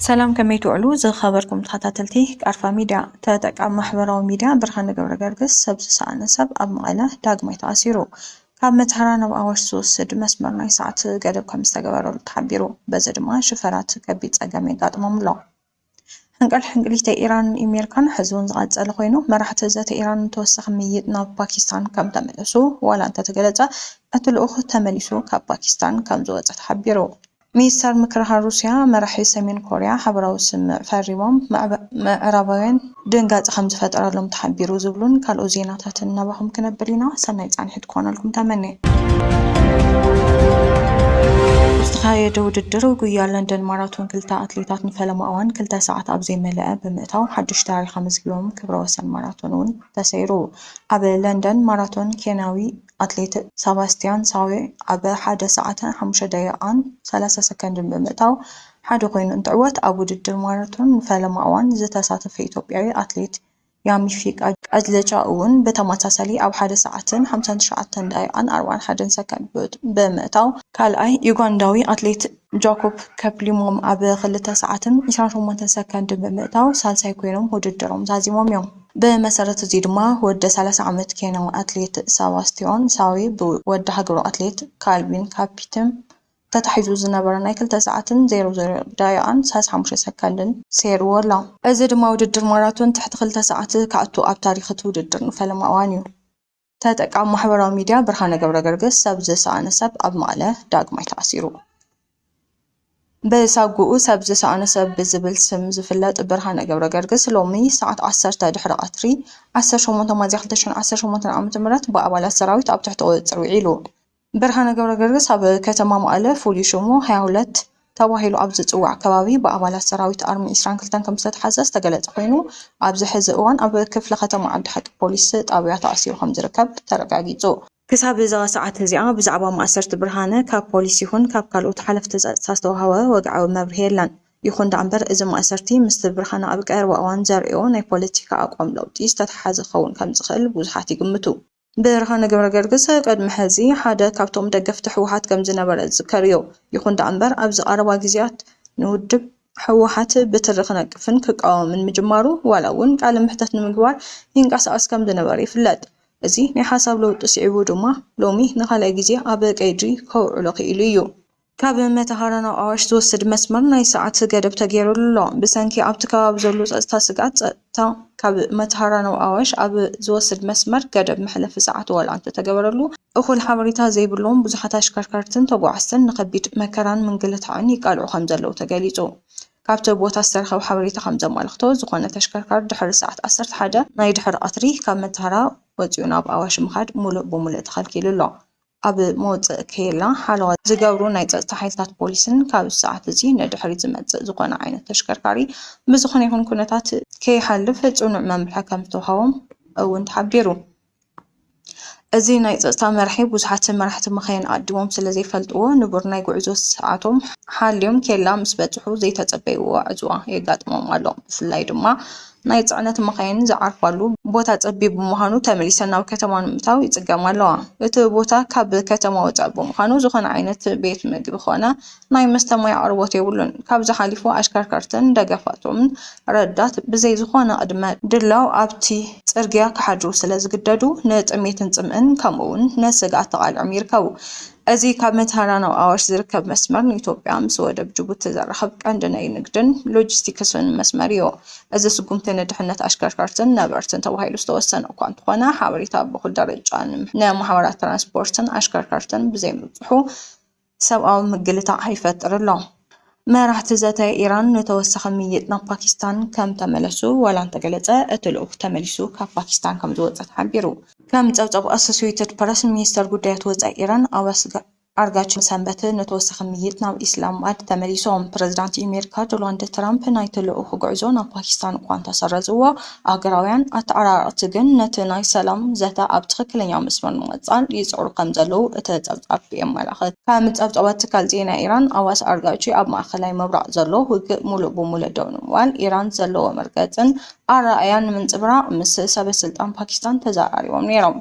ሰላም ከመይ ትውዕሉ ዝኸበርኩም ተኸታተልቲ ቃርፋ ሚድያ። ተጠቃሚ ማሕበራዊ ሚድያ ብርሃነ ገብረገርግስ ሰብ ዝሰኣነ ሰብ ኣብ መቐለ ዳግማይ ተኣሲሩ። ካብ መተሃራ ናብ ኣዋሽ ዝወስድ መስመር ናይ ሰዓት ገደብ ከምዝተገበረሉ ተሓቢሩ። በዚ ድማ ሽፈራት ከቢድ ፀገም የጋጥሞም'ሎ። ሕንቅል ሕንቅሊት ኢራንን ኢሜሪካን ሕዚውን ዝቐፀለ ኮይኑ መራሕቲ ዘተ ኢራን ንተወሳኺ ምይይጥ ናብ ፓኪስታን ከምተመለሱ ዋላ እንተተገለፀ እቲ ልኡኽ ተመሊሱ ካብ ፓኪስታን ከምዝወፀ ተሓቢሩ። ሚኒስተር ምክልኻል ሩሲያ መራሒ ሰሜን ኮሪያ ሓበራዊ ስምምዕ ፈሪሞም ምዕራባውያን። ድንጋፀ ከምዝፈጠረሎም ተሓቢሩ ዝብሉን ካልኦት ዜናታትን ናባኹም ክነብል ኢና። ሰናይ ፃንሒት ክኾነልኩም ተመንየ። ዝተኻየደ ውድድር ጉያ ለንደን ማራቶን ክልተ ኣትሌታት ንፈለማ እዋን ክልተ ሰዓት ኣብ ዘይመለኣ ብምእታው ሓዱሽ ታሪኽ ኣመዝጊቦም፣ ክብረ ወሰን ማራቶን እውን ተሰይሩ። ኣብ ለንደን ማራቶን ኬንያዊ ኣትሌት ሰባስቲያን ሳዌ ኣብ ሓደ ሰዓትን ሓሙሽተ ደቂቓን ሰላሳ ሰከንድን ብምእታው፣ ሓደ ኮይኑ እንትዕወት ኣብ ውድድር ማራቶን ንፈለማ እዋን ዝተሳተፈ ኢትዮጵያዊ ኣትሌት ያሚፊ ቃጅለቻ እውን ብተመሳሳሊ ኣብ ሓደ ሰዓትን ሓምሳን ትሽዓተን ደቒቓን ኣርባዓን ሓደን ሰከንድ ብምእታው ካልኣይ ዩጋንዳዊ ኣትሌት ጃኮብ ከፕሊሞም ኣብ ክልተ ሰዓትን ዕስራን ሸሞንተን ሰከንድን ብምእታው ሳልሳይ ኮይኖም ውድድሮም ዛዚሞም እዮም። ብመሰረት እዙይ ድማ ወዲ ሰላሳ ዓመት ኬንያዊ ኣትሌት ሰባስቲዮን ሳዌ ብወዲ ሃገሩ ኣትሌት ካልቪን ካፒትም ተታሒዙ ዝነበረ ናይ ክልተ ሰዓትን ዜሮ ዜሮ ደቒቓን ሰላሳን ሓሙሽተን ሰከንድን ሰይሩዎ ኣሎ። እዚ ድማ ውድድር ማራቶን ትሕቲ ክልተ ሰዓት ክኣቱ ኣብ ታሪኽ እቲ ውድድር ንፈለማ እዋን'ዩ። ተጠቃሚ ማሕበራዊ ሚድያ ብርሃነ ገብረገርግስ ሰብ ዝሰኣነ ሰብ ኣብ መቐለ ዳግማይ ተኣሲሩ። ብሳጉኡ ሰብ ዝሰኣነ ሰብ ብዝብል ስም ዝፍለጥ ብርሃነ ገብረገርግስ ሎሚ ሰዓት ዓሰርተ ድሕሪ ቀትሪ ዓሰርተ ሸሞንተ ሚያዝያ ክልተ ሽሕን ዓሰርተ ሸሞንተን ዓመተ ምህረት ብኣባላት ሰራዊት ኣብ ትሕቲ ቁፅፅር ውዒሉ። ብርሃነ ገብረገርግስ ኣብ ከተማ መቐለ ፍሉይ ሽሙ ሃያ ሁለት ተባሂሉ ኣብ ዝፅዋዕ ከባቢ ብኣባላት ሰራዊት ኣርሚ ዕስራን ክልተን ከምዝተትሓዘ ዝተገለፀ ኮይኑ ኣብዚ ሕዚ እዋን ኣብ ክፍለ ከተማ ዓዲ ሓቂ ፖሊስ ጣብያ ተኣሲሩ ከምዝርከብ ተረጋጊፁ። ክሳብ እዛ ሰዓት እዚኣ ብዛዕባ ማእሰርቲ ብርሃነ ካብ ፖሊስ ይኹን ካብ ካልኦት ሓለፍቲ ፀፅታ ዝተውሃበ ወግዓዊ መብርሂ የለን። ይኹን ደኣ እምበር እዚ ማእሰርቲ ምስቲ ብርሃነ ኣብ ቀረባ እዋን ዘርእዮ ናይ ፖለቲካ ኣቋም ለውጢ ዝተተሓሓዘ ክኸውን ከምዝኽእል ብዙሓት ይግምቱ። ብርሃነ ገብረገርግስ ቅድሚ ሕዚ ሓደ ካብቶም ደገፍቲ ህወሓት ከምዝነበረ ዝዝከር እዩ። ይኹን ደኣ'ምበር ኣብዚ ቀረባ ግዜያት ንውድብ ህወሓት ብትሪ ክነቅፍን ክቃወምን ምጅማሩ ዋላ እውን ቃለ መሕተት ንምግባር ይንቀሳቐስ ከምዝነበረ ይፍለጥ። እዚ ናይ ሓሳብ ለውጢ ስዒቡ ድማ ሎሚ ንኻልኣይ ግዜ ኣብ ቀይዲ ከውዕሎ ክኢሉ እዩ። ካብ መተሃራ ናብ ኣዋሽ ዝወስድ መስመር ናይ ሰዓት ገደብ ተገይሩሉ'ሎ። ብሰንኪ ኣብቲ ከባቢ ዘሎ ጸጥታ ስግኣት፣ ጸጥታ ካብ መተሃራ ናብ ኣዋሽ ኣብ ዝወስድ መስመር ገደብ መሕለፊ ሰዓት ዋላ እንተተገበረሉ፣ እኹል ሓበሬታ ዘይብሎም ብዙሓት ኣሽከርከርትን ተጓዓዝትን ንከቢድ መከራን ምንግልታዕን ይቃልዑ ከምዘለዉ ተገሊጹ። ካብቲ ቦታ ዝተረኸበ ሓበሬታ ከምዘማልክቶ፣ ዝኾነ ተሽከርካሪ ድሕሪ ሰዓት ዓሰርተ ሓደ ናይ ድሕሪ ቀትሪ ካብ መተሃራ ወጺኡ ናብ ኣዋሽ ምኻድ ሙሉእ ብሙሉእ ተኸልኪሉ'ሎ። ኣብ መወፀኢ ኬላ ሓለዋ ዝገብሩ ናይ ፀጥታ ሓይልታት ፖሊስን ካብዚ ሰዓት እዚ ንድሕሪት ዝመፅእ ዝኾነ ዓይነት ተሽከርካሪ ብዝኾነ ይኹን ኩነታት ከይሓልፍ ፅኑዕ መምርሒ ከምዝተውሃቦም እውን ተሓቢሩ። እዚ ናይ ፀፅታ መርሒ ብዙሓት መራሕቲ መኻይን ኣቐዲሞም ስለዘይፈልጥዎ ንቡር ናይ ጉዕዞ ሰዓቶም ሓልዮም ኬላ ምስበፅሑ ዘይተፀበይዎ ዕፅዋ የጋጥሞም ኣሎ። ብፍላይ ድማ ናይ ጽዕነት መኻይን ዝዓርፋሉ ቦታ ጸቢብ ብምዃኑ ተመሊሰን ናብ ከተማ ንምእታው ይጽገማ ኣለዋ። እቲ ቦታ ካብ ከተማ ወጻኢ ብምዃኑ ዝኾነ ዓይነት ቤት መግቢ ኮነ ናይ መስተ ማይ ኣቕርቦት የብሉን። ካብዚ ሓሊፉ ኣሽከርከርትን ደገፋቶምን ረዳት ብዘይ ዝኾነ ቅድመ ድላው ኣብቲ ጽርግያ ክሓድሩ ስለ ዝግደዱ ንጥሜትን ጽምእን ከምኡ'ውን ንስግኣት ተቓሊዖም ይርከቡ። እዚ ካብ መተሃራ ናብ ኣዋሽ ዝርከብ መስመር ንኢትዮጵያ ምስ ወደብ ጅቡቲ ዘራኽብ ቀንዲ ናይ ንግድን ሎጂስቲክስን መስመር እዩ። እዚ ስጉምቲ ንድሕነት ኣሽከርከርትን ነበርትን ተባሂሉ ዝተወሰነ እኳ እንተኾነ ሓበሬታ ኣብ እኹል ደረጃ ንማሕበራት ትራንስፖርትን ኣሽከርከርትን ብዘይምብፅሑ ሰብኣዊ ምግልታዕ ይፈጥር ኣሎ። መራሕቲ ዘተ ኢራን ንተወሳኺ ምይይጥ ናብ ፓኪስታን ከም ተመለሱ ዋላ እንተገለጸ፣ እቲ ልኡኽ ተመሊሱ ካብ ፓኪስታን ከም ዝወጸ ተሓቢሩ። ከም ጸብጻብ ኣሶሴይትድ ፕረስ፣ ሚኒስተር ጉዳያት ወጻኢ ኢራን ዓባስ ኣርጋቺ ሰንበት ንተወሳኺ ምይይጥ ናብ ኢስላማባድ ተመሊሶም። ፕረዚዳንት ኢሜሪካ ዶላንድ ትራምፕ ናይቲ ልኡኽ ጉዕዞ ናብ ፓኪስታን እኳ እንተሰረዝዎ፣ ኣገራውያን ኣተዓራረቕቲ ግን ነቲ ናይ ሰላም ዘተ ኣብ ትኽክለኛ መስመር ንምቕጻል ይጽዕሩ ከምዘለዉ እቲ ጸብጻብ የመላኽት። ከም ጸብጻባት ትካል ዜና ኢራን ኣዋስ ኣርጋቺ፣ ኣብ ማእከላይ ምብራቕ ዘሎ ውግእ ምሉእ ብምሉእ ደው ንምባል ኢራን ዘለዎ መርገጽን ኣረኣእያን ንምንጽብራቕ ምስ ሰበስልጣን ፓኪስታን ተዘራሪቦም ነይሮም።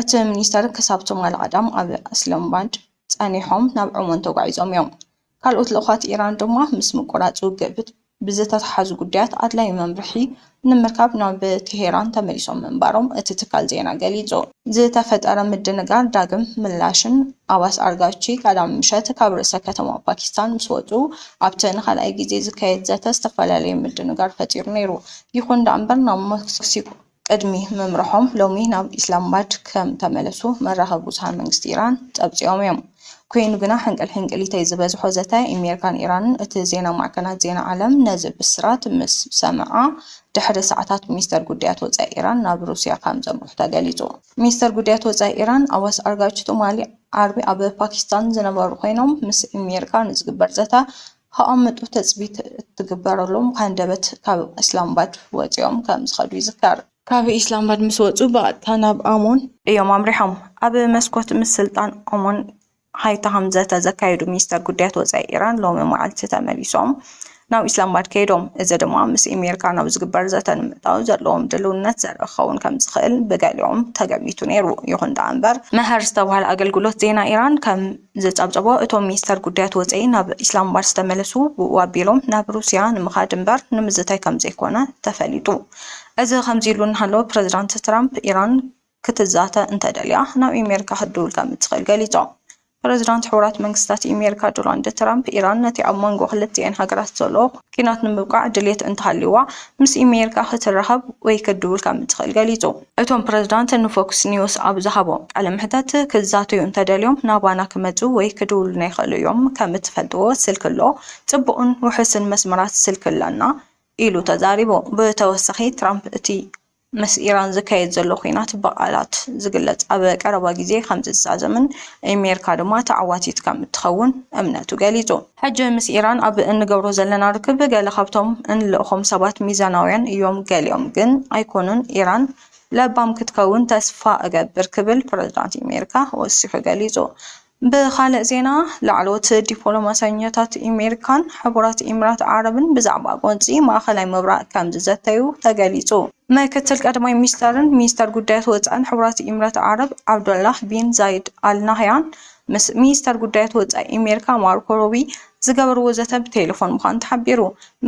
እቲ ሚኒስተር ክሳብ ትማሊ ቀዳም ኣብ እስላማባድ ጸኒሖም ናብ ዖማን ተጓዒዞም እዮም። ካልኦት ልኡኻት ኢራን ድማ ምስ ምቍራጽ ውግእ ብዝተተሓሓዙ ጉዳያት ኣድላዪ መምርሒ ንምርካብ ናብ ቴሄራን ተመሊሶም ምንባሮም እቲ ትካል ዜና ገሊጹ። ዝተፈጠረ ምድንጋር ዳግም ምላሽን ኣባስ ኣርጋቺ ቀዳም ምሸት ካብ ርእሰ ከተማ ፓኪስታን ምስ ወጹ ኣብቲ ንኻልኣይ ግዜ ዝካየድ ዘተ ዝተፈላለዩ ምድንጋር ፈጢሩ ነይሩ። ይዅን ደኣ'ምበር ናብ መክሲኮ ቅድሚ ምምርሖም ሎሚ ናብ ኢስላማባድ ከም ተመለሱ መራኸቢ ብዙሃን መንግስቲ ኢራን ጸብጺቦም'ዮም። ኰይኑ ግና ሕንቅልሕንቅሊተይ ዝበዝሖ ዘተ ኣሜሪካን ኢራንን እቲ ዜና ማዕከናት ዜና ዓለም ነዚ ብስራት ምስ ሰምዓ ድሕሪ ሰዓታት ሚኒስተር ጉዳያት ወጻኢ ኢራን ናብ ሩስያ ከም ዘምርሑ ተገሊጹ። ሚኒስተር ጉዳያት ወጻኢ ኢራን ኣባስ ኣርጋቺ ትማሊ ዓርቢ ኣብ ፓኪስታን ዝነበሩ ኰይኖም ምስ ኣሜሪካ ንዝግበር ዘተ ከቐምጡ ትፅቢት እትግበረሎም ሃንደበት ካብ ኢስላምባድ ወፂኦም ከምዝኸዱ ይዝከር። ካብ ኢስላምባድ ምስ ወፁ ብቐጥታ ናብ ኣሞን እዮም ኣምሪሖም። ኣብ መስኮት ምስልጣን ኣሞን ሃይታሃም ዘተ ዘካየዱ ሚኒስተር ጉዳያት ወፃኢ ኢራን ሎሚ መዓልቲ ተመሊሶም ናብ ኢስላምባድ ከይዶም። እዚ ድማ ምስ ኣሜሪካ ናብ ዝግበር ዘተ ንምእታው ዘለዎም ድልውነት ዘርኢ ክኸውን ከምዝኽእል ብገሊኦም ተገሚቱ ነይሩ። ይኹን ደኣ እምበር መሀር ዝተብሃለ ኣገልግሎት ዜና ኢራን ከም ዘጻብጸቦ እቶም ሚኒስተር ጉዳያት ወጸኢ ናብ ኢስላማባድ ዝተመለሱ ብኡ ኣቢሎም ናብ ሩስያ ንምኻድ እምበር ንምዝታይ ከምዘይኮነ ተፈሊጡ። እዚ ከምዚሉ እናሃለወ ፕረዚዳንት ትራምፕ ኢራን ክትዛተ እንተደልያ ናብ ኢሜሪካ ክትድውል ከምትኽእል ገሊጾም። ፕረዚዳንት ሕቡራት መንግስታት ኢሜሪካ ዶላንድ ትራምፕ ኢራን ነቲ ኣብ መንጎ ክልቲኤን ሃገራት ዘሎ ኲናት ንምብቃዕ ድልየት እንተሃልይዋ ምስ ኢሜሪካ ክትራኸብ ወይ ክትድውል ከምትኽእል ገሊጹ። እቶም ፕረዚዳንት ንፎክስ ኒውስ ኣብ ዝሃብዎ ቃለ መሕተት፣ ክዛተዩ እንተደልዮም ናባና ክመጹ ወይ ክድውሉልና ይኽእሉ እዮም፣ ከም እትፈልጥዎ ስልኪ ኣሎ፣ ጽቡቕን ውሑስን መስመራት ስልኪ ኣሎና ኢሉ ተዛሪቡ። ብተወሳኺ ትራምፕ እቲ ምስ ኢራን ዝካየድ ዘሎ ኲናት ብቓላት ዝግለጽ ኣብ ቀረባ ግዜ ከም ዝዛዘምን ኣሜሪካ ድማ ተዓዋቲት ከም እትኸውን እምነቱ ገሊጹ። ሕጂ ምስ ኢራን ኣብ እንገብሮ ዘለና ርክብ ገለ ካብቶም እንልእኾም ሰባት ሚዛናውያን እዮም ገሊኦም ግን ኣይኮኑን ኢራን ለባም ክትከውን ተስፋ እገብር ክብል ፕረዚዳንት ኢሜሪካ ወሲኹ ገሊጹ። ብኻልእ ዜና ላዕለዎት ዲፖሎማሰኛታት ኢሜሪካን ሕቡራት ኢምራት ዓረብን ብዛዕባ ጎንጺ ማእኸላይ ምብራቅ ከምዝዘተዩ ተገሊጹ። ምክትል ቀዳማይ ሚኒስተርን ሚኒስተር ጉዳያት ወጻእን ሕቡራት ኢምራት ዓረብ ዓብዱላህ ቢን ዛይድ ኣል ናህያን ምስ ሚኒስተር ጉዳያት ወጻኢ ኣሜሪካ ማርኮ ሩብይ ዝገበርዎ ዘተ ብቴለፎን ምዃኑ ተሓቢሩ።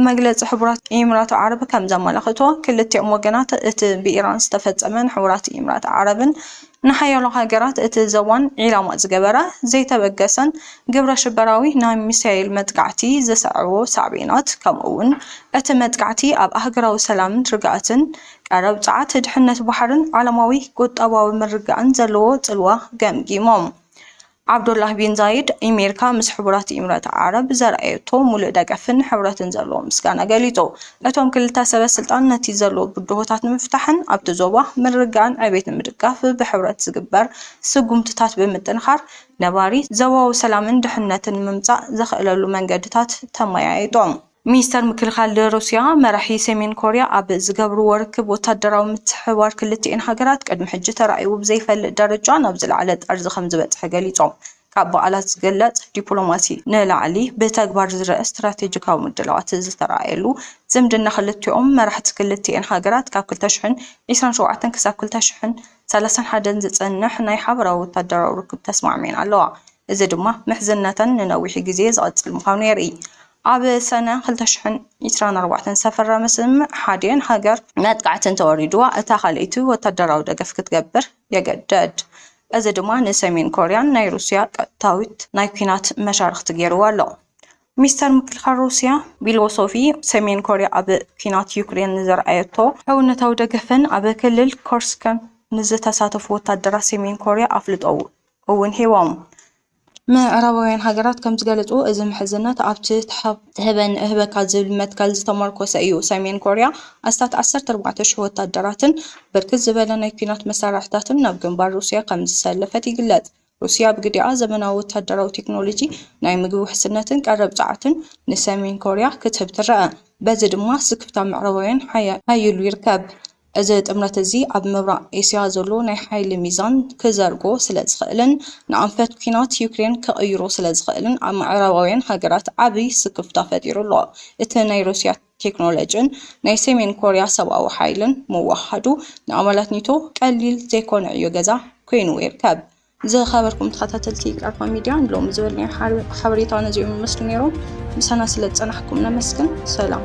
መግለጺ ሕቡራት ኢምራት ዓረብ ከም ዘመላኽቶ፣ ክልቲኦም ወገናት እቲ ብኢራን ዝተፈጸመ ንሕቡራት ኢምራት ዓረብን ንሓያሎ ሃገራት እቲ ዞባን ዒላማ ዝገበረ ዘይተበገሰን ግብረሽበራዊ ናይ ሚሳይል መጥቃዕቲ ዘስዐቦ ሳዕቤናት ከምኡ'ውን እቲ መጥቃዕቲ ኣብ ኣህጉራዊ ሰላምን ርግኣትን ቀረብ ጸዓት፣ ድሕነት ባሕርን ዓለማዊ ቁጠባዊ ምርግጋእን ዘለዎ ጽልዋ ገምጊሞም። ዓብዱላህ ቢን ዛይድ፣ ኣሜሪካ ምስ ሕቡራት ኢምረት ዓረብ ዘርኣየቶ ምሉእ ደገፍን ሕብረትን ዘለዎ ምስጋና ገሊጹ። እቶም ክልተ ሰበ ስልጣን ነቲ ዘሎ ብድሆታት ንምፍታሕን ኣብቲ ዞባ ምርግጋእን ዕቤትን ንምድጋፍ ብሕብረት ዝግበር ስጉምትታት ብምጥንኻር ነባሪ ዞባዊ ሰላምን ድሕነትን ንምምጻእ ዘኽእለሉ መንገድታት ተመያይጦም። ሚኒስተር ምክልኻል ሩስያ፣ መራሒ ሰሜን ኮርያ ኣብ ዝገብርዎ ርክብ ወታደራዊ ምትሕብባር ክልቲኤን ሃገራት ቅድሚ ሕጂ ተራእይዎ ብዘይፈልጥ ደረጃ ናብ ዝለዓለ ጠርዚ ከምዝበጽሐ ገሊጾም። ካብ ብቓላት ዝግለጽ ዲፕሎማሲ ንላዕሊ ብተግባር ዝረኣ ስትራቴጂካዊ ምድላዋት ዝተራእየሉ ዝምድና ክልቲኦም መራሕቲ ክልቲኤን ሃገራት ካብ ክልተ ሽሕን ዒስራን ሸውዓተን ክሳብ ክልተ ሽሕን ሰላሳን ሓደን ዝጸንሕ ናይ ሓበራዊ ወታደራዊ ርክብ ተስማዕሚዐን ኣለዋ። እዚ ድማ ምሕዝነተን ንነዊሕ ግዜ ዝቕጽል ምዃኑ የርእይ። ኣብ ሰነ ክልተ ሽሕን ዒስራን ኣርባዕተን ዝተፈረመ ስምምዕ ሓዲኤን ሃገር መጥቃዕቲ እንተወሪድዋ እታ ካልኣይቲ ወታደራዊ ደገፍ ክትገብር የገደድ። እዚ ድማ ንሰሜን ኮርያ ናይ ሩስያ ቀጥታዊት ናይ ኲናት መሻርኽቲ ገይርዋ ኣሎ። ሚስተር ምክልኻል ሩስያ ቢሎሶፊ ሰሜን ኮርያ ኣብ ኲናት ዩክሬን ንዘርኣየቶ ሕውነታዊ ደገፍን ኣብ ክልል ኮርስክን ንዝተሳተፉ ወታደራት ሰሜን ኮርያ ኣፍልጦ እውን ሂቦም። ምዕራባውያን ሃገራት ከም ዝገለፅዎ እዚ ምሕዝነት ኣብቲ ትሀበኒ እህበካ ዝብል መትከል ዝተሞርኮሰ እዩ። ሰሜን ኮርያ ኣስታት ዓሰርተ ኣርባዕተ ሽሕ ወታደራትን ብርክት ዝበለ ናይ ኲናት መሳርሕታትን ናብ ግንባር ሩስያ ከም ዘሰለፈት ይግለጽ። ሩስያ ብግዲኣ፣ ዘመናዊ ወታደራዊ ቴክኖሎጂ፣ ናይ ምግቢ ውሕስነትን ቀረብ ጸዓትን ንሰሜን ኮርያ ክትህብ ትረኣ። በዚ ድማ ስክፍታ ምዕራባውያን ሓዪሉ ይርከብ። እዚ ጥምረት እዚ ኣብ ምብራቕ ኤስያ ዘሎ ናይ ሓይሊ ሚዛን ክዘርጎ ስለ ዝኽእልን ንኣንፈት ኲናት ዩክሬን ክቕይሮ ስለ ዝኽእልን ኣብ ምዕራባውያን ሃገራት ዓቢ ስክፍታ ፈጢሩ ኣሎ። እቲ ናይ ሩስያ ቴክኖሎጅን ናይ ሰሜን ኮርያ ሰብኣዊ ሓይልን ምውህሃዱ ንኣባላት ኔቶ ቀሊል ዘይኮነ ዕዮ ገዛ ኰይንዎ ይርከብ። ዝኸበርኩም ተኸታተልቲ ቃልፋ ሚድያ ሎሚ ዝበልናዮ ሓበሬታ ነዚኦም ይመስሉ ነይሮም። ምሳና ስለ ዝጸናሕኩም ነመስግን። ሰላም